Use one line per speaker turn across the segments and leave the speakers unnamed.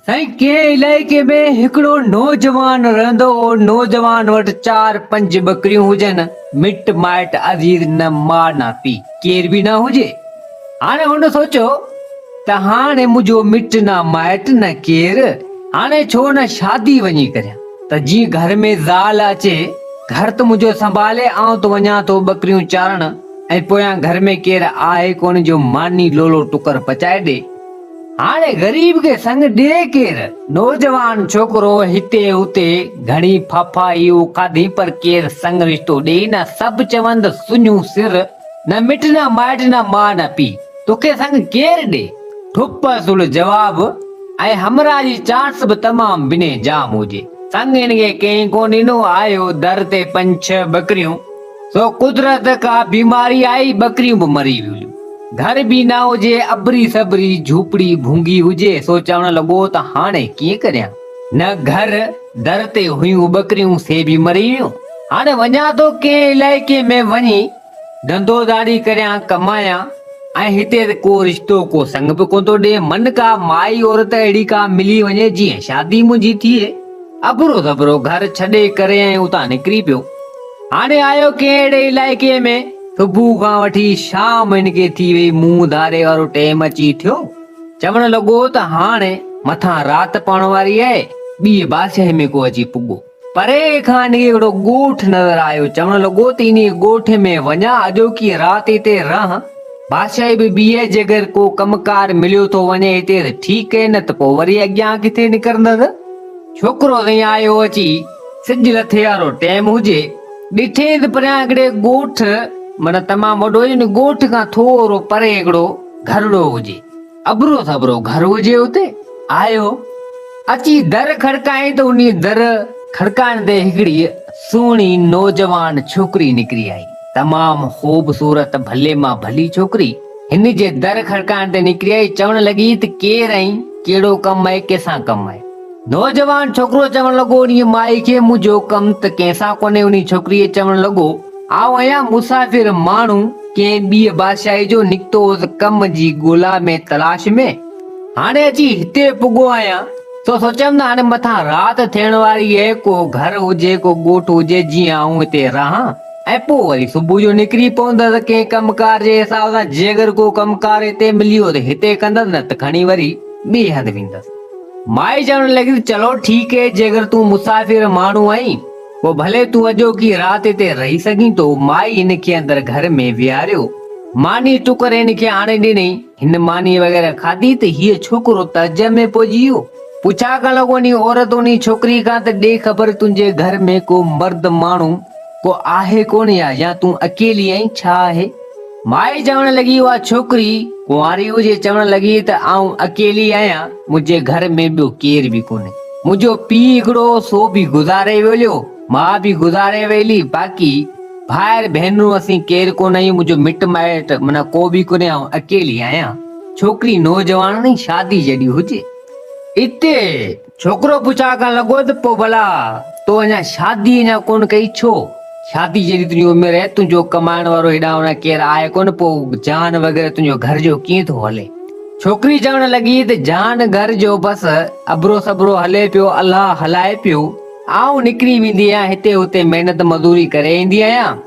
سائين ڪنهن علائقي ۾ هڪڙو نوجوان رهندو هو نوجوان وٽ چار پنج ٻڪريون هجن مٽ مائٽ عزيز نه ماء نه پي ڪير به نه هجي هاڻي هن سوچيو ته هاڻي منهنجو مٽ نه مائٽ نه ڪير هاڻي ڇو نه شادي وڃي ڪريان ته جي گهر ۾ زال اچي گهر ته منهنجو سنڀالي آئون ته وڃان ٿو ٻڪريون چارڻ ۽ پويان گهر ۾ ڪير آهي ڪونه جو ماني لولو ٽڪر پچائي ڏي هاڻي غريب کي سڱ ڏئي ڪير؟ نوجوان ڇوڪرو هتي اتي گهڻي ڦاڦاهيون کاڌي پر ڪير سڱ رشتو ڏئي نه، سڀ چوند سڃون سر، نه مٽ نه مائٽ نه ماء نه پيء، توکي سڱ ڪير ڏئي؟ ٺپ سڙ جواب ۽ همراهه جي چانس به تمام بنهه جام هجي. سڱ هن کي ڪنهن ڪو ڏنو، آيو در تي پنج ڇهه ٻڪريون. سو قدرت ڪا بيماري آئي ٻڪريون به مري ويون گهر به نه هجي ابري سبري جهوپڙي ڀونگي هجي سو چوڻ لڳو ته هاڻي ڪيئن ڪريان نه گهر در تي هيون ٻڪريون سي به مري ويون هاڻي وڃان ٿو ڪنهن علائقي ۾ وڃي ڌنڌو ڌاڙي ڪريان ڪمايان ۽ هتي ته ڪو رشتو ڪو سڱ به ڪونه ٿو ڏي من ڪا مائي عورت اهڙي ڪا ملي وڃي جيئن شادي منهنجي ٿئي ابرو سبرو گهر ڇڏي ڪري ۽ اتان نڪري پيو هاڻي آيو ڪنهن اهڙي علائقي ۾، صبح کان وٺي شام هن کي ٿي ويئي، منهن ڌاري وارو ٽيم اچي ٿيو، چوڻ لڳو ته هاڻي مٿان رات پوڻ واري آهي، ٻيء بادشاهي ۾ ڪو اچي پڳو. پري کان هن کي هڪڙو ڳوٺ نظر آيو، چوڻ لڳو ته انهيء ڳوٺ ۾ وڃان، اڄوڪي رات هتي رهان، بادشاهي به ٻيء جيڪر ڪو ڪم ڪار مليو ٿو وڃي هتي ته ٺيڪ، نه ته پوء وري اڳيان ڪٿي نڪرندس. ڇوڪرو سائين آيو اچي. سج لٿي وارو ٽيم هجي. ڏٺيئي ته پريان هڪڙي ڳوٺ معنيٰ تمام وڏو ان ڳوٺ کان ٿورو پري هڪڙو گهرڙو هجي. اڀرو سڀرو گهر هجي اتي. آيو. اچي در کڙڪائين ته انهيء در کڙڪائڻ تي هڪڙي سهڻي نوجوان ڇوڪري نڪري آئي. تمام خوب صورت ڀلي مان ڀلي ڇوڪري هن جي در کڙڪائڻ تي نڪري آئي چوڻ لڳي ته ڪير آهين ڪهڙو ڪم آهي ڪيسان ڪم آهي. نوجوان ڇوڪرو چوڻ لڳو، انهيء مائي کي منهنجو ڪم ته ڪنهن سان ڪونهي. انهيء ڇوڪريء چوڻ لڳو، آئون آهيان مسافر ماڻهو، ڪنهن ٻيء بادشاهيء جو، نڪتو هوس ڪم جي ڳولا ۾، تلاش ۾، هاڻي اچي هتي پڳو آهيان، سو سوچيم ته هاڻي مٿان رات ٿيڻ واري اهي، ڪو گهر هجي، ڪو ڳوٺ هجي، جيئن آئون هتي رهان ۽ پوء وري صبح جو نڪري پوندس ڪنهن ڪم ڪار جي حساب سان، جيڪر ڪو ڪم ڪار هتي مليو ته هتي ڪندس، نه ته کڻي وري ٻئي هنڌ ويندس. مائي چوڻ لڳي ته چلو ٺيڪ اهي جيڪر تون مسافر ماڻهو آهين پوء ڀلي تون اڄوڪي رات هتي رهي سگهين ٿو مائي هن کي اندر گهر ۾ ويهاريو ماني ٽڪر هن کي آڻي ڏنائين هن ماني وغيره کاڌي ته هيء ڇوڪرو تعجب ۾ پئجي ويو پڇا ڪرڻ لڳو انهي عورت انهي ڇوڪري کان ته ڏي خبر تنهنجي گهر ۾ ڪو مرد ماڻهو ڪو آهي ڪونه يا يا تون اڪيلي آهين ڇا آهي؟ مائي چوڻ لڳي اها ڇوڪري ڪنواري هجي چوڻ لڳي ته آئون اڪيلي آهيان منهنجي گهر ۾ ٻيو ڪير به ڪونهي منهنجو پيء هڪڙو هو سو به گذاري ويليو ماء به گذاري ويلي باقي ڀائر ڀينرون اسين ڪير ڪونه آهيون منهنجو مٽ مائٽ معنيٰ ڪو به ڪونهي آئون اڪيلي آهيان ڇوڪري نوجوان شادي جڏي هجي اتي ڇوڪرو پڇا ڪرڻ لڳو ته پوء ڀلا تو اڃا شادي اڃا ڪونه ڪئي ڇو؟ شادي جيڏي تنهنجي عمر آهي، تنهنجو ڪمائڻ وارو هيڏانهن هوڏانهن ڪير آهي ڪونه، پوء جان وغيره تنهنجو گهر جو ڪيئن ٿو هلي؟ ڇوڪري چوڻ لڳي ته جان گهر جو بس ابرو سبرو هلي پيو، الله هلائي پيو، آئون نڪري ويندي آهيان، هتي هتي محنت مزوري ڪري ايندي آهيان.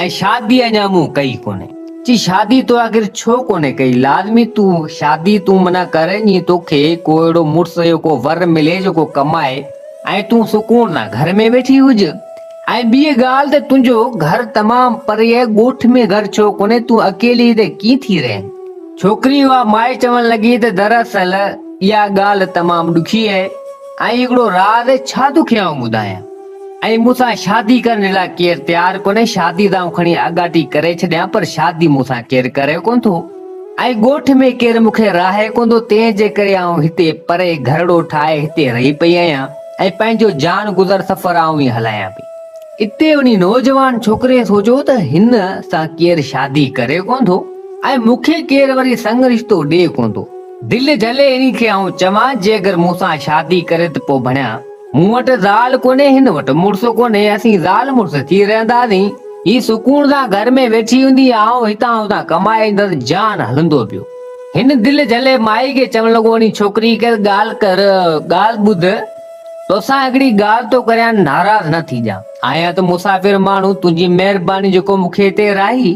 ۽ شادي اڃا مون ڪئي ڪونهي. چي شادي تو آخر ڇو ڪونهي ڪئي؟ لازمي تون شادي تون منا ڪر جيئن توکي ڪو اهڙو مڙس جو ڪو ور ملي جيڪو ڪمائي ۽ تون سڪون سان گهر ۾ ويٺي هج. ۽ ٻي ڳالهه ته تنهنجو گهر تمام پري آهي ڳوٺ ۾ گهر ڇو ڪونهي تون اڪيلي هتي ڪيئن ٿي رهين؟ ڇوڪري اها مائي چوڻ لڳي ته دراصل اها ڳالهه تمام ڏکي آهي ۽ هڪڙو راز ڇا توکي آئون ٻڌايان. ۽ مون سان شادي ڪرڻ جي لاء ڪير تيار ڪونهي، شادي ته آئون کڻي آڳاٽي ڪري ڇڏيان پر شادي مون سان ڪير ڪري ڪونه ٿو ۽ ڳوٺ ۾ ڪير مون کي راهي ڪونه ٿو تنهن جي ڪري آئون هتي پري گهرڙو ٺاهي هتي رهي پئي آهيان ۽ پنهنجو جان گذر سفر آئون ئي هلايان پئي. اتي انهي نوجوان ڇوڪري سوچيو ته هن سان ڪير شادي ڪري ڪونه ٿو ۽ مون کي ڪير وري سڱ رشتو ڏئي ڪونه ٿو، دل جهلي انهي کي آئون چوان جيڪر مون سان شادي ڪري ته پوء ڀڻيا. مون وٽ زال ڪونهي هن وٽ مڙس ڪونهي اسين زال مڙس ٿي رهنداسين هي سڪون سان گهر ۾ ويٺي هوندي آئون هتان هتان ڪمائي ايندس جان هلندو پيو هن دل جهلي مائي کي چوڻ لڳو اڙي ڇوڪري هڪ ڳالهه ڪر ڳالهه ٻڌ توسان هڪڙي ڳالهه ٿو ڪريان ناراض نه ٿي جا آهيان ته مسافر ماڻهو تنهنجي مهرباني جيڪو مون کي هتي راهي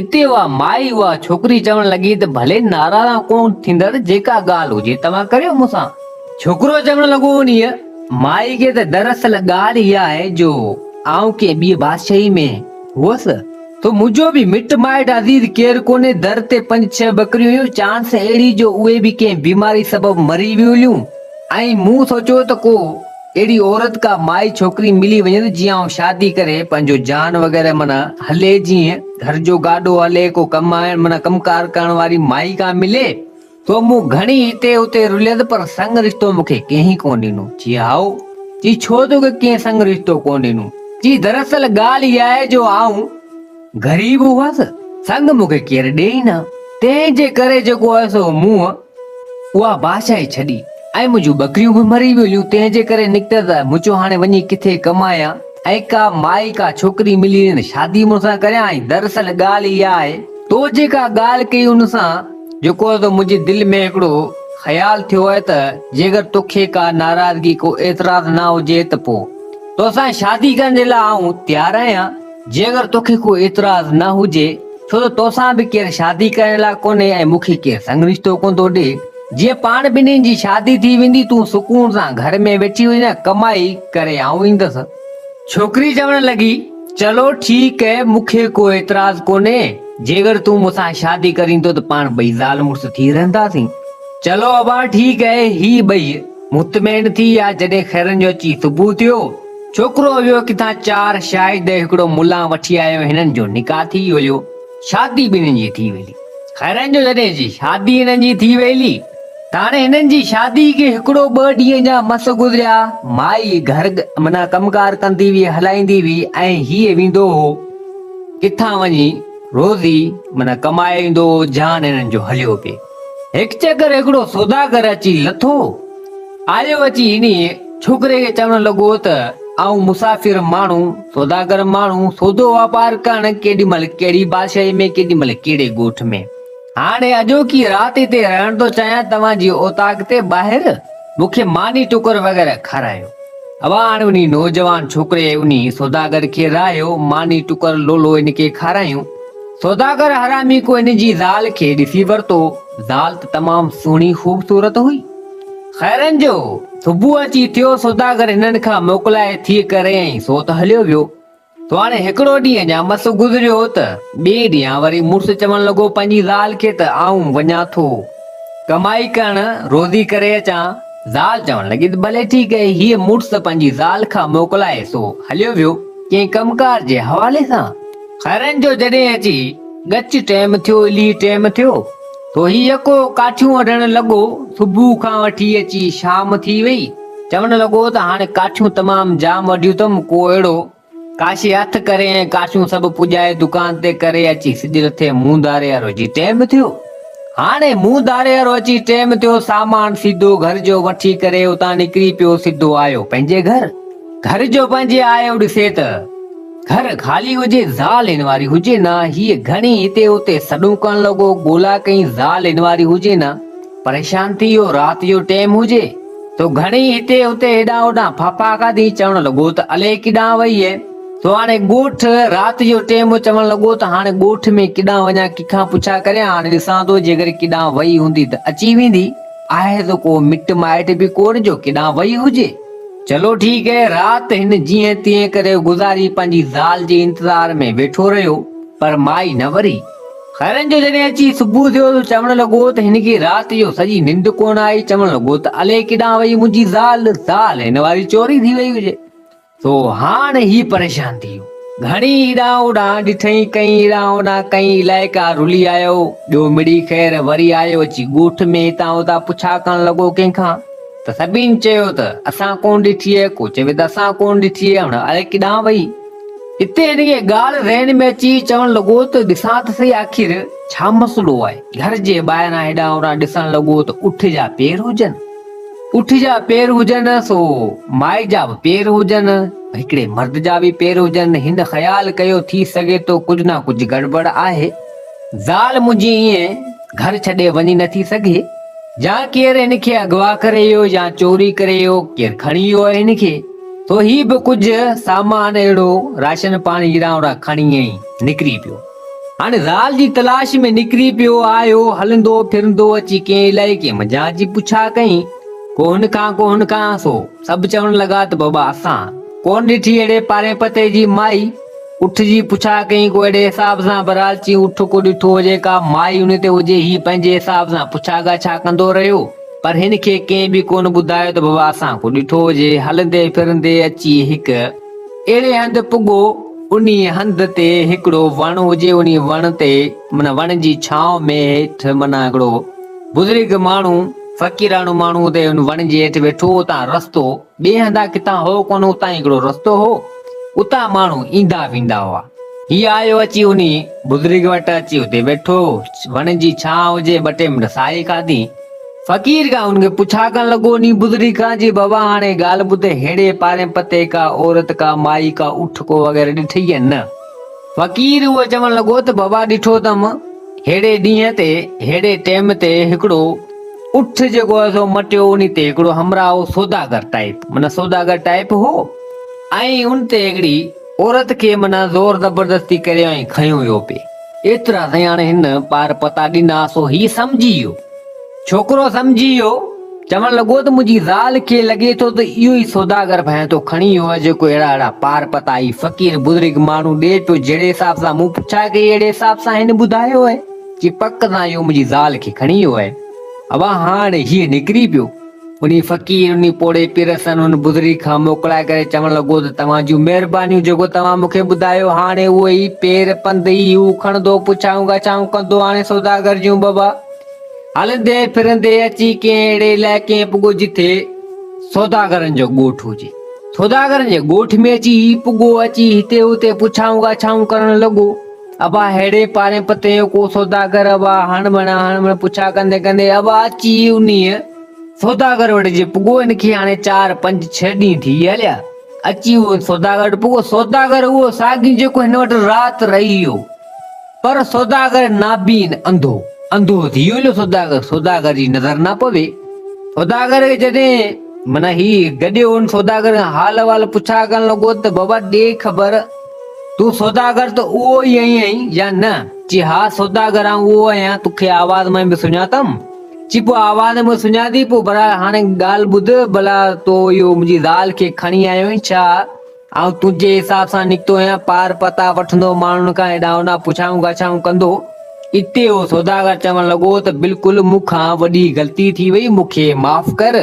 اتي اها مائي اها ڇوڪري چوڻ لڳي ته ڀلي ناراض ڪون ٿيندس جيڪا ڳالهه هجي توهان ڪريو مون سان ڇوڪرو چوڻ لڳو انهيء مائي کي ته دراصل ڳالهه اها آهي جو آئون ڪنهن ٻيء بادشاهيء ۾ هئس، سو منهنجو به مٽ مائٽ عزيز ڪير ڪونهي، در تي پنج ڇهه ٻڪريون هيون، چانس اهڙي جو اهي به ڪنهن بيماري سبب مري ويون هليون ۽ مون سوچيو ته ڪو اهڙي عورت ڪا مائي ڇوڪري ملي وڃيس جي آئون شادي ڪري پنهنجو جان وغيره معنيٰ هلي جيئن گهر جو گاڏو هلي ڪو ڪم آڻڻ معنيٰ ڪم ڪار ڪرڻ واري مائي ڪا ملي. تو مون گهڻي هتي هتي رليس پر سڱ رشتو مون کي ڪنهن ئي ڪونه ڏنو. چي هائو! چي ڇو تو کي ڪنهن سڱ رشتو ڪونه ڏنو؟ چي دراصل ڳالهه اها آهي جو آئون غريب هئس، سڱ مون کي ڪير ڏئي ئي نه، تنهن جي ڪري جيڪو هيس سو مون اها بادشاهي ڇڏي ۽ منهنجون ٻڪريون به مري ويليون، تنهن جي ڪري نڪتس مون چيو هاڻي وڃي ڪٿي ڪمايان ۽ ڪا مائي ڪا ڇوڪري ملي وڃي ته شادي مون سان ڪريان ۽ دراصل ڳالهه اها آهي تو جيڪا ڳالهه ڪئي ان سان جيڪو ته منهنجي دل ۾ هڪڙو خيال ٿيو آهي ته جيڪر توکي ڪا ناراضگي ڪو اعتراض نه هجي ته پوء توسان شادي ڪرڻ جي لاء آئون تيار آهيان جيڪر توکي ڪو اعتراض نه هجي ڇو ته توسان به ڪير شادي ڪرڻ لاء ڪونهي ۽ مون کي ڪير سڱ رشتو ڪوندو ڏي جيئن پاڻ ٻنهين جي شادي ٿي ويندي تون سڪون سان گهر ۾ ويٺي هجين ڪمائي ڪري آئون ايندس. ڇوڪري چوڻ لڳي، چلو ٺيڪ اهي، مون کي ڪو اعتراض ڪونهي، جيڪر تون مون سان شادي ڪرين ٿو ته پاڻ ٻئي زال مڙس ٿي رهنداسين. چلو ابا ٺيڪ اهي، هي ٻئي مطمئن ٿي ويا، جڏهن خيرن جو اچي صبح ٿيو، ڇوڪرو ويو ڪٿان چار شاهد ۽ هڪڙو ملان وٺي آيو، هنن جو نڪاح ٿي ويو، شادي ٻنهي جي ٿي ويلي. خيرن جو جڏهن شادي هنن جي ٿي ويلي. ته هاڻي هنن جي شادي کي هڪڙو ٻه ڏينهن جا مس گذريا، مائي گهر معنيٰ ڪم ڪار ڪندي هئي هلائيندي هئي ۽ هيء ويندو هو ڪٿان وڃي روزي معنيٰ ڪمائي ايندو هو جان هنن جو هليو پئي هڪ چڪر هڪڙو سوداگر اچي لٿو آيو اچي انهيء ڇوڪري کي چوڻ لڳو ته آئون مسافر ماڻهو سوداگر ماڻهو سودو واپار ڪرڻ ڪيڏي مهل ڪهڙي بادشاهي ۾ ڪيڏي مهل ڪهڙي ڳوٺ ۾. هاڻي اڄوڪي رات هتي رهڻ ٿو چاهيان توهان جي اوطاق تي ٻاهر مون کي ماني ٽڪر وغيره کارايو اوا هاڻي انهي نوجوان ڇوڪري انهي سوداگر کي رايو ماني ٽڪر لولو ان کي کارايون سوداگر حرامي ڪو ان جي زال کي ڏسي ورتو زال ته تمام سهڻي خوبصورت هئي خيرن جو صبح اچي ٿيو سوداگر هنن کان موڪلائي ٿي ڪري ۽ سوت هليو ويو هاڻي هڪڙو ڏينهن ڄامس گذريو ته ٻئي ڏينهن وري مڙس چوڻ لڳو پنهنجي زال کي ته آئون وڃان ٿو ڪمائي ڪرڻ روزي ڪري اچان، زال چوڻ لڳي ته ڀلي ٺيڪ آهي، هيء مڙس پنهنجي زال کان موڪلائي سو هليو ويو ڪنهن ڪم ڪار جي حوالي سان. خيرن جو جڏهن اچي ڳچ ٽيم ٿيو الهي ٽيم ٿيو تو هي يڪو ڪاٺيون وڍڻ لڳو صبح کان وٺي اچي شام ٿي وئي، چوڻ لڳو ته هاڻي ڪاٺيون تمام جام وڍيون اٿم، ڪو اهڙو، ڪاشي هٿ ڪري ۽ ڪاٺيون سڀ پڄائي دڪان تي ڪري اچي سج لٿي منهن ڌاري وارو اچي ٽيم ٿيو. هاڻي منهن ڌاري وارو اچي ٽيم ٿيو، سامان سيڌو گهر جو وٺي ڪري اتان نڪري پيو سيڌو آيو پنهنجي گهر. گهر جو پنهنجي آيو ڏسي ته گهر خالي هجي زال هن واري هجي نه، هيء گهڻي هتي هتي سڏون ڪرڻ لڳو، ڳولا ڪئين زال هن واري هجي نه، پريشان ٿي اهو رات جو ٽيم هجي تو گهڻي هتي هتي هيڏانهن هوڏانهن ڦاڦا کاڌي چوڻ لڳو ته الئي ڪيڏانهن وئي اهي تو هاڻي ڳوٺ رات جو ٽيم چوڻ لڳو ته هاڻي ڳوٺ ۾ ڪيڏانهن وڃان ڪيکان پڇا ڪريان هاڻي ڏسان ٿو جيڪر ڪيڏانهن وئي هوندي ته اچي ويندي آهي ته ڪو مٽ مائٽ به ڪونهي جو ڪيڏانهن وئي هجي چلو ٺيڪ اهي رات هن جيئن تيئن ڪري گذاري پنهنجي زال جي انتظار ۾ ويٺو رهيو پر مائي نه وري. خيرن جو جڏهن اچي صبح ٿيو ته چوڻ لڳو ته هن کي رات جو سڄي ننڊ ڪونه آئي، چوڻ لڳو ته الئي ڪيڏانهن وئي منهنجي زال، زال هن واري چوري ٿي وئي هجي. سو هاڻ هي پريشان ٿي ويو. گهڻي هيڏانهن هوڏانهن ڏٺئي، ڪئين هيڏانهن هوڏانهن ڪئين الائي ڪا رلي آيو، ٻيو مڙئي خير وري آيو اچي ڳوٺ ۾ هتان هتان پڇا ڪرڻ لڳو ڪنهن کان ته سڀني چيو ته اسان ڪونه ڏٺيئي، ڪو چوي ته اسان ڪونه ڏٺيئي هاڻ الئي ڪيڏانهن وئي. اتي هن کي ڳالهه ذهن ۾ اچي چوڻ لڳو ته ڏسان ته سهي آخر ڇا مسئلو آهي؟ گهر جي ٻاهران هيڏانهن هوڏانهن ڏسڻ لڳو ته اٺ جا پير هجن. اٺ جا پير هجن سو مائي جا به پير هجن، هڪڙي مرد جا به پير هجن. هن خيال ڪيو ٿي سگهي ٿو ڪجهه نه ڪجهه گڙٻڙ آهي. زال منهنجي ائين گهر ڇڏي وڃي نه ٿي سگهي جا ڪير هن کي اغوا ڪري ويو يا چوري ڪري ويو ڪير کڻي ويو آهي هن کي سو هي به ڪجهه سامان اهڙو راشن پاڻي هيرا هوڙا کڻي ۽ نڪري پيو هاڻي زال جي تلاش ۾ نڪري پيو آهيو هلندو ڦرندو اچي ڪنهن علائقي منجهان جي پڇا ڪئي ڪو هن کان ڪو هن کان سو سڀ چوڻ لڳا ته بابا اسان ڪونه ڏٺي اهڙي پارين پتي جي مائي اٺ جي پڇا ڪيائين، ڪو اهڙي حساب سان برال چيائين، اٺ ڪو ڏٺو هجي، ڪا مائي ان تي هجي، هي پنهنجي حساب سان پڇا ڳاڇا ڪندو رهيو، پر هن کي ڪنهن به ڪونه ٻڌايو ته بابا اسان ڪو ڏٺو هجي، هلندي ڦرندي اچي هڪ اهڙي هنڌ پڳو، انهي هنڌ تي هڪڙو وڻ هجي، انهي وڻ تي معنيٰ وڻ جي ڇانو ۾ هيٺ معنيٰ هڪڙو بزرگ ماڻهو، فقيراڻو ماڻهو اتي ان وڻ جي هيٺ ويٺو هو، اتان رستو. ٻئي هنڌان ڪٿان هو ڪونه اتان هڪڙو رستو هو اتان ماڻهو ايندا ويندا هئا هي آيو اچي انهي بزرگ وٽ اچي اتي ويٺو وڻ جي ڇانء هجي ٻه ٽي منٽ ساهي کاڌي فقير کان ان کي پڇا ڪرڻ لڳو انهي بزرگ کان جي بابا هاڻي ڳالهه ٻڌ ههڙي پارين پتي ڪا عورت ڪا مائي ڪا اٺ ڪو وغيره ڏٺئي يا نه فقير اهو چوڻ لڳو ته بابا ڏٺو اٿم ههڙي ڏينهن تي ههڙي ٽيم تي هڪڙو اٺ جيڪو هو سو مٽيو انهي تي هڪڙو همراهو سوداگر ٽائيپ معنيٰ سوداگر ٽائيپ هو ۽ ان تي هڪڙي عورت کي معنيٰ زور زبردستي ڪري ۽ کنيو ويو پي ايترا سائين هاڻي هن ٻار پتا ڏنا سو هي سمجهي ويو ڇوڪرو سمجهي ويو، چوڻ لڳو ته منهنجي زال کي لڳي ٿو ته اهو ئي سوداگر ڀانئين ٿو کڻي ايو آهي جيڪو اهڙا اهڙا پار پتائي، فقير، بزرگ ماڻهو ڏي پيو جهڙي حساب سان مون پڇا ڪئي اهڙي حساب سان هن ٻڌايو آهي جي پڪ سان اهو منهنجي زال کي کڻي ويو آهي. اوهان هاڻ هيء نڪري پيو. انهي فقير، انهي پوڙهي پير سن ان بزرگ کان موڪلائي ڪري چوڻ لڳو ته توهان جون مهربانيون جيڪو توهان مون کي ٻڌايو هاڻي اهو ئي پير پنڌ ئي هو کڻندو پڇائون ڳاڇائون ڪندو هاڻي سوداگر جون بابا هلندي ڦرندي اچي ڪنهن اهڙي علائقي ۾ پڳو جتي سوداگرن جو ڳوٺ هجي سوداگرن جي ڳوٺ ۾ اچي هي پڳو اچي هتي هتي پڇائون ڳاڇائون ڪرڻ لڳو ابا ههڙي پاري پتي جو ڪو سوداگر ابا هڻ بڻا هڻ بڻا پڇا ڪندي ڪندي ابا اچي انهي سوداگر وٽ جي پڳو ان کي هاڻي چار پنج ڇهه ڏينهن ٿي هليا اچي اهو سوداگر وٽ پڳو سوداگر اهو ساڳي جيڪو هن وٽ رات رهي ويو پر سوداگر نابين، انڌو، انڌو ٿي ويو جو سوداگر، سوداگر جي نظر نه پوي. سوداگر کي جڏهن معنيٰ هي گڏيو ان سوداگر کان حال احوال پڇا ڪرڻ لڳو ته بابا ڏي خبر تون سوداگر ته اهو ئي آهين يا نه؟ چي ها سوداگر آئون اهو آهيان تو کي آواز مان به سڃاتم؟ چي پوء آواز مان سڃان ٿي پوء برحال هاڻي ڳالهه ٻڌ ڀلا تو اهو منهنجي زال کي کڻي آيو آهين ڇا؟ آئون تنهنجي حساب سان نڪتو آهيان، پار پتا وٺندو، ماڻهن کان هيڏانهن هوڏانهن پڇائون ڳاڇائون ڪندو. اتي اهو سوداگر چوڻ لڳو ته بلڪل مون کان وڏي غلطي ٿي وئي، مون کي معاف ڪر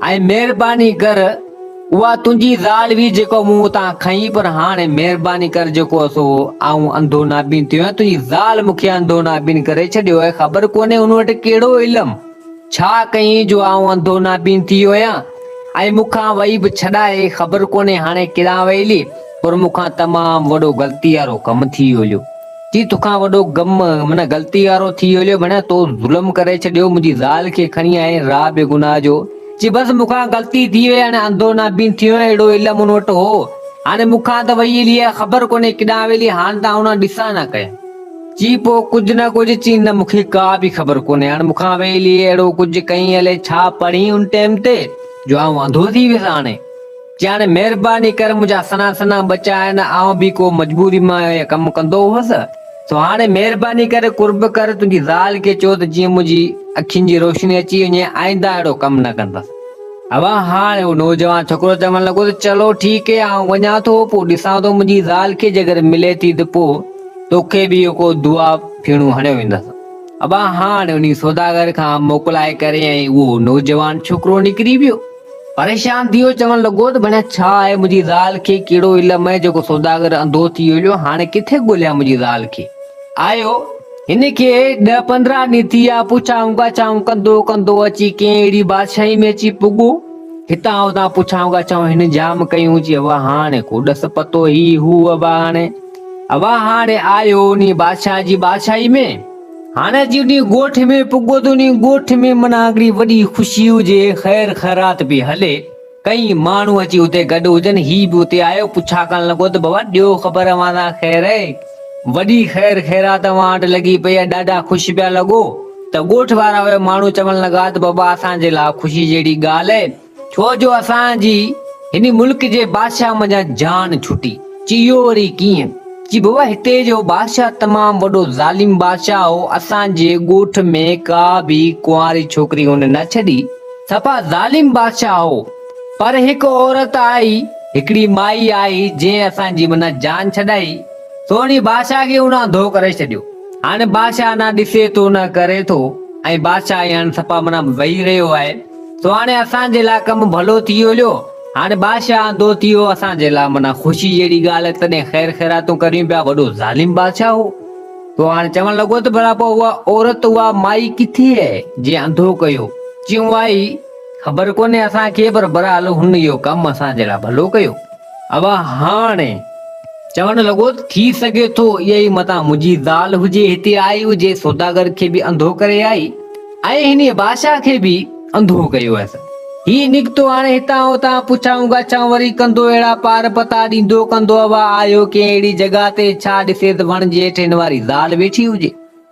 ۽ مهرباني ڪر اها تنهنجي زال هئي جيڪو مون اتان کنئي پر هاڻي مهرباني ڪر جيڪو سو آئون انڌو نابين ٿيو آهيان، تنهنجي زال مون کي انڌو نابين ڪري ڇڏيو آهي، خبر ڪونهي هن وٽ ڪهڙو علم. ڇا ڪيئين جو آئون انڌو نابين ٿي ويو آهيان ۽ مون کان وئي به ڇڏائي خبر ڪونهي هاڻي ڪيڏانهن وئيلي پر مون کان تمام وڏو غلطي وارو ڪم ٿي ويوليو جي توکان وڏو غم من غلطي وارو ٿي ويوليو ڀڻيا تو ظلم ڪري ڇڏيو منهنجي زال کي کڻي آئين را بيگناهه جو جي بس مون کان غلطي ٿي وئي هاڻي انڌو نابين ٿي ويو اهڙو علم ان وٽ هو هاڻي مون کان ته وئي ويلي آهي خبر ڪونهي ڪيڏانهن ويلي هاڻ ته آئون نه ڏسان نه ڪيان چي پوء ڪجهه نه ڪجهه چي نه مون کي ڪا به خبر ڪونهي هاڻ مون کان ويلي اهڙو ڪجهه ڪئين الئي ڇا پڙهين ان ٽيم تي جو آئون انڌو ٿي ويس هاڻي چي هاڻي مهرباني ڪر منهنجا سنا سنا ٻچا آهن آئون به ڪو مجبوري مان اهي ڪم ڪندو هوس سو هاڻي مهرباني ڪري قرب ڪر تنهنجي زال کي چئو ته جيئن منهنجي اکين جي روشني اچي وڃي آئنده اهڙو ڪم نه ڪندس اوا هاڻي اهو نوجوان ڇوڪرو چوڻ لڳو ته چلو ٺيڪ هي آئون وڃان ٿو پوء ڏسان ٿو منهنجي زال کي جيڪڏهن ملي ٿي ته پوء توکي به اهو دعا ڦيڻو هڻيو ويندس. ابا هاڻ انهي سوداگر کان موڪلائي ڪري ۽ اهو نوجوان ڇوڪرو نڪري ويو. پريشان ٿي اهو چوڻ لڳو ته ڀلا ڇا آهي منهنجي زال کي ڪهڙو علم آهي جيڪو سوداگر انڌو ٿي هليو هاڻ ڪٿي ڳوليان منهنجي زال کي. آيو هن کي ڏهه پندرهن ڏينهن ٿي ويا پڇائون ڳاڇائون ڪندو ڪندو اچي ڪنهن اهڙي بادشاهي ۾ اچي پڳو. هتان هتان پڇائون ڳاڇائون هن جام ڪيون چي ابا هاڻ ڪو ڏس پتو هي هو ابا هاڻ اوهان هاڻي آهيو انهي بادشاهه جي بادشاهي ۾، هاڻي جي انهي ڳوٺ ۾ پڳو ته انهي ڳوٺ ۾ منا هڪڙي وڏي خوشي هجي، خير خيرات پئي هلي. ڪئين ماڻهو اچي اتي گڏ هجن، هي به اتي آيو، پڇا ڪرڻ لڳو ته بابا ڏيو خبر اوهان سان خير اهي، وڏي خير خيرات اوهان وٽ لڳي پئي آهي، ڏاڍا خوش پيا لڳو ته ڳوٺ وارا اهي ماڻهو چوڻ لڳا ته بابا اسان جي لاء خوشي جهڙي ڳالهه اهي، ڇو جو اسان جي هن ملڪ جي بادشاهه منجهان جان ڇٽي. چيو وري ڪيئن؟ چي بابا هتي جو بادشاهه تمام وڏو ظالم بادشاهه هو اسان جي ڳوٺ ۾ ڪا به ڪنواري ڇوڪري هن نه ڇڏي صفا ظالم بادشاهه هو پر هڪ عورت آئي هڪڙي مائي آئي جنهن اسان جي منان جان ڇڏائي سوڻي بادشاهه کي ان انڌو ڪري ڇڏيو هاڻي بادشاهه نه ڏسي ٿو نه ڪري ٿو ۽ بادشاهه هاڻي صفا منان وهي رهيو آهي سو هاڻي اسان جي لاء ڪم ڀلو ٿي ويو ليو هاڻي بادشاهه آندو ٿي ويو اسان جي لاء معنيٰ خوشي جهڙي ڳالهه آهي تڏهن خير خيراتون ڪريون پيا وڏو ظالم بادشاهه هو سو هاڻي چوڻ لڳو ته ڀلا پوء اها عورت اها مائي ڪٿي آهي جنهن انڌو ڪيو چيائون آئي خبر ڪونهي اسان کي پر برحال هن اهو ڪم اسان جي لاء ڀلو ڪيو اوهاڻي چوڻ لڳو، ٿي سگهي ٿو اها ئي متان منهنجي زال هجي، هتي آئي هجي، سوداگر کي به انڌو ڪري آئي ۽ هنيء بادشاهه کي به انڌو ڪيو هيس. هي نڪتو هاڻي هتان هتان پڇائون ڳاڇائون وري ڪندو، اهڙا پار پتا ڏيندو ڪندو، اوهان آهيو ڪنهن اهڙي جڳهه تي، ڇا ڏسيس وڻ جي هيٺ هن واري زال ويٺي هجي.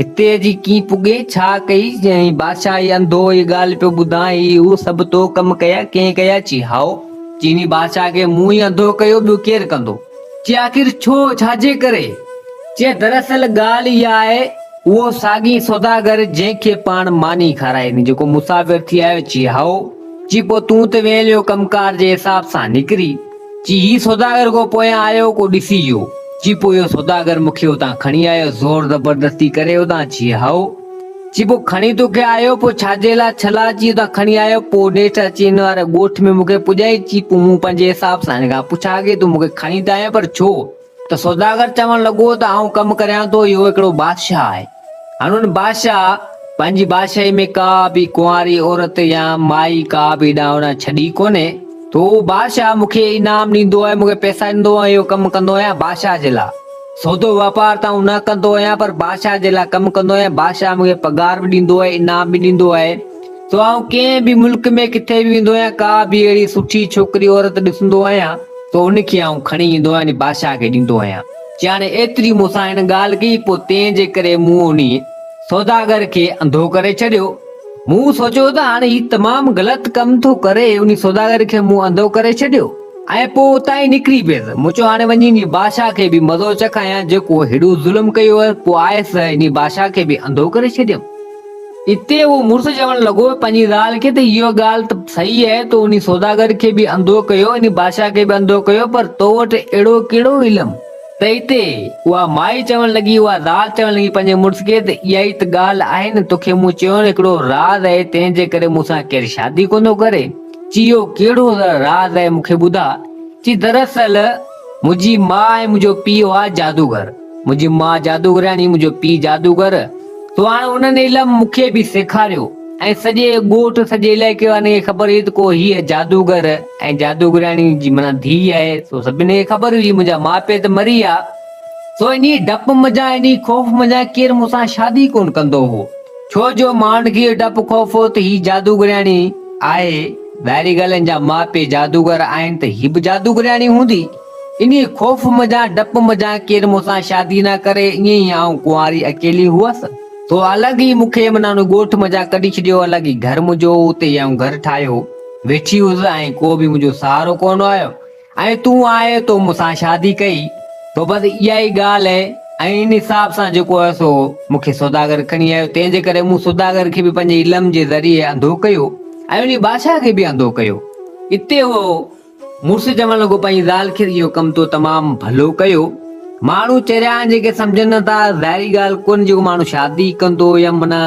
هتي اچي ڪيئن پڳي، ڇا ڪئي؟ چيائين، بادشاهه هي انڌو هي ڳالهه پيو ٻڌان، هي اهو سڀ تو ڪم ڪيا، ڪنهن ڪيا؟ چي، هائو! چيني بادشاهه کي مون ئي انڌو ڪيو، ٻيو ڪير ڪندو؟ چي، آخر ڇو؟ ڇا جي ڪري؟ چي، دراصل ڳالهه اها آهي، اهو ساڳي سوداگر جنهن کي پاڻ ماني کارائي ڏني، جيڪو مسافر ٿي آيو؟ چي، هائو! چي، پوء تون ته ويل اهو ڪم ڪار جي حساب سان نڪري. چي هي سوداگر ڪو پويان آيو ڪو ڏسي جو. چي پوء اهو سوداگر مون کي اتان کڻي آيو زور زبردستي ڪري اتان چي هائو. چي پوء کڻي تو کي آيو پوء ڇاجي لا ڇلا چي اتان کڻي آيو پوء نيٺ اچي هن واري ڳوٺ ۾ مون کي پڄائي چي پوء مون پنهنجي حساب سان هن کان پڇا ڪي تو مون کي کڻي ته آيو پر ڇو؟ ته سوداگر چوڻ لڳو ته آئون ڪم ڪريان ٿو، اهو هڪڙو بادشاهه آهي. هن ان بادشاهه پنهنجي بادشاهي ۾ ڪا به ڪنواري عورت يا مائي ڪا به اڏاوڻا ڇڏي ڪونهي، ته اهو بادشاهه مون کي انعام ڏيندو آهي، مون کي پئسا ڏيندو آهي، اهو ڪم ڪندو آهيان بادشاهه جي لاء. سودو واپار ته آئون نه ڪندو آهيان، پر بادشاهه جي لاء ڪم ڪندو آهيان، بادشاهه مون کي پگهار به ڏيندو آهي، انعام به ڏيندو آهي. سو آئون ڪنهن به ملڪ ۾ ڪٿي به ويندو آهيان ڪا به اهڙي سٺي ڇوڪري عورت ڏسندو آهيان سو ان کي آئون کڻي ايندو آهيان ۽ بادشاهه کي ڏيندو آهيان جياڻي ايتري مون سان هن ڳالهه ڪئي پوء تنهن جي ڪري مون انهي سوداگر کي انڌو ڪري ڇڏيو. مون سوچيو ته هاڻ هي تمام غلط ڪم ٿو ڪري انهي سوداگر کي مون انڌو ڪري ڇڏيو ۽ پوء اتان ئي نڪري پيس مون چيو هاڻي وڃي انهي بادشاهه کي به مزو چکايان جيڪو هيڏو ظلم ڪيو هئس پوء آء سهي انهي بادشاهه کي به انڌو ڪري ڇڏيم. اتي اهو مڙس چوڻ لڳو پنهنجي زال کي ته اها ڳالهه ته صحيح آهي تو انهي سوداگر کي به انڌو ڪيو انهي بادشاهه کي به انڌو ڪيو پر تو وٽ اهڙو ڪهڙو علم ته اتي اها مائي چوڻ لڳي اها زال چوڻ لڳي پنهنجي مڙس کي ته اها ئي ته ڳالهه آهي نه توکي مون چيو نه هڪڙو راز آهي تنهن جي ڪري مون سان ڪير شادي ڪونه ڪري چي اهو ڪهڙو راز آهي مون کي ٻڌاء چي دراصل منهنجي ماء ۽ منهنجو پيء هئا جادوگر. منهنجي ماء جادوگرياڻي ۽ منهنجو پيء جادوگر. سو هاڻ انهن علم مون کي به سيکاريو ۽ سڄي ڳوٺ، سڄي علائقي وارن کي خبر هئي ته ڪو هيء جادوگر ۽ جادوگرياڻي جي معنيٰ ڌيء آهي. سو سڀني کي خبر هئي منهنجا ماء پيء ته مري ويا. سو انهيء ڊپ منجهان، انهيء خوف منجهان ڪير مون سان شادي ڪونه ڪندو هو. ڇو جو مانڊگيء ڊپ خوفو ته هي جادوگرياڻي آهي، ٻاهرين ڳالهين جا ماء پيء جادوگر آهن ته هي به جادوگرياڻي هوندي. انهيء خوف منجهان ڊپ منجهان ڪير مون سان شادي نه ڪري، ائين ئي آئون ڪنواري اڪيلي هئس. تو الڳ ئي مون کي منا ان ڳوٺ منجهان ڪڍي ڇڏيو، الڳ ئي گهر منهنجو هو، اتي ئي آئون گهر ٺاهيو ويٺي هئس ۽ ڪو به منهنجو سهارو ڪونه آيو. ۽ تون آء تو مون سان شادي ڪئي تو بس اها ئي ڳالهه هي ۽ ان حساب سان جيڪو هي سو مون کي سوداگر کڻي آيو تنهن جي ڪري مون سوداگر کي به پنهنجي علم جي ذريعي انڌو ڪيو ۽ انهي بادشاهه کي به انڌو ڪيو اتي اهو مڙس چوڻ لڳو پنهنجي زال کي اهو ڪم تو تمام ڀلو ڪيو ماڻهو چريا آهن جيڪي سمجهن نه ٿا ظاهري ڳالهه ڪونهي جيڪو ماڻهو شادي ڪندو يا معنيٰ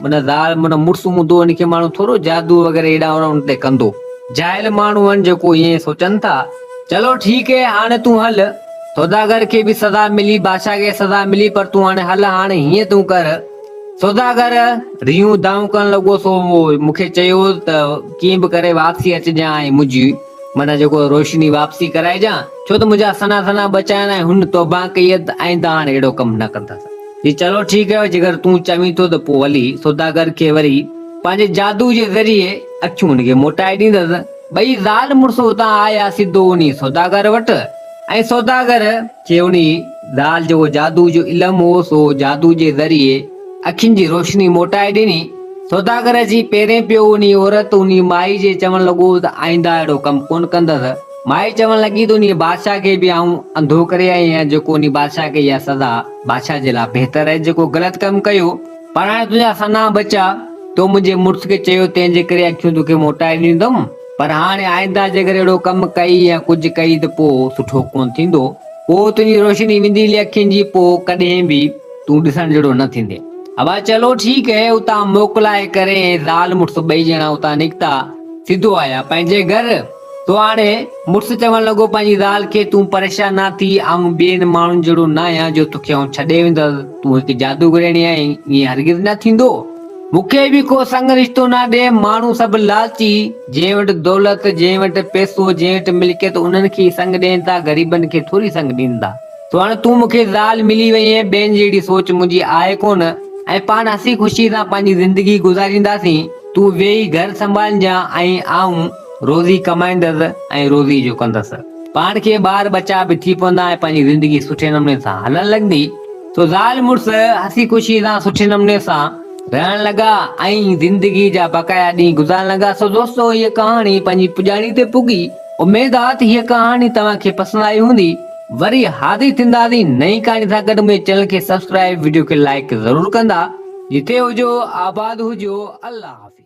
معنيٰ زال مڙس هوندو ان کي ماڻهو ٿورو جادو وغيره هيڏانهن هوڏانهن ان تي ڪندو جاهل ماڻهو هن جيڪو ائين سوچن ٿا. چلو ٺيڪ هي هاڻي تون هل. سوداگر کي به سزا ملي بادشاهه کي سزا ملي پر تون هاڻي هل هاڻي هيئن تون ڪر سوداگر ريون دانهون ڪرڻ لڳو سو مون کي چيو ته ڪيئن به ڪري واپسي اچجان ۽ منهنجي معنيٰ جيڪو روشني واپسي ڪرائجان ڇو ته منهنجا سنا سنا بچائڻ ۽ هن توبه ڪئي ته آئنده هاڻي اهڙو ڪم نه ڪندس. چي چلو ٺيڪ هي جيڪر تون چوين ٿو ته پوء هلي سوداگر کي وري پنهنجي جادو جي ذريعي اکيون ان کي موٽائي ڏيندس. ٻئي زال مڙس اتان آيا سڌو انهي سوداگر وٽ ۽ سوداگر کي انهي زال جو اهو جادو جو علم هو سو جادو جي ذريعي اکين جي روشني موٽائي ڏني. سوداگر اچي پيرين پيو انهي عورت انهي مائي جي چوڻ لڳو ته آئنده اهڙو ڪم ڪونه ڪندس. مائي چوڻ لڳي ته انهي بادشاهه کي به آئون انڌو ڪري آئي آهيان جيڪو انهي بادشاهه کي اها سزا بادشاهه جي لاء بهتر آهي جيڪو غلط ڪم ڪيو. پر هاڻي تنهنجا سنها بچا، تو منهنجي مڙس کي چيو، تنهن جي ڪري اکيون توکي موٽائي ڏيندم، پر هاڻي آئنده جيڪر اهڙو ڪم ڪئي يا ڪجهه ڪئي ته پوء سٺو ڪونه ٿيندو، پوء تنهنجي روشني وينديلي اکين جي پوء ڪڏهن به تون ڏسڻ جهڙو نه ٿيندين. ابا چلو ٺيڪ هي. اتان موڪلائي ڪري زال مڙس ٻئي ڄڻا اتان نڪتا، سڌو آيا پنهنجي گهر. سو هاڻي مڙس چوڻ لڳو پنهنجي زال کي، تون پريشان نه ٿي، آئون ٻين ماڻهن جهڙو نه آهيان جو توکي آئون ڇڏي ويندس، تون هڪ جادوگريڻي آهين، ائين هرگز نه ٿيندو، مون کي به ڪو سڱ رشتو نه ڏي، ماڻهو سڀ لالچي، جنهن وٽ دولت، جنهن وٽ پئسو، جنهن وٽ ملڪيت انهن کي ئي سڱ ڏين ٿا، غريبن کي ٿوري سڱ ڏيندا، سو هاڻي تون مون کي زال ملي وئين، ٻين جهڙي سوچ منهنجي آهي ڪونه، ۽ پاڻ هسي خوشي سان پنهنجي زندگي گذارينداسين، تون ويهي گهر سنڀالجان ۽ آئون. روزي ڪمائيندس ۽ روزي جو ڪندس. پاڻ کي ٻار ٻچا به ٿي پوندا ۽ پنهنجي زندگي سٺي نموني سان هلڻ لڳندي. سو زال مڙس هسي خوشي سان سٺي نموني سان رهڻ لڳا ۽ زندگي جا بقايا ڏينهن گذارڻ لڳا. سو دوستو هيء ڪهاڻي پنهنجي پڄاڻي تي پڳي. اميد آ ته هيء ڪهاڻي توهان کي پسند آئي هوندي. وري حاضر ٿينداسين نئين ڪهاڻي سان گڏ منهنجي چينل کي سبسڪرائيب وڊيو کي لائيڪ ضرور ڪندا. جتي هجو آباد هجو الله حافظ.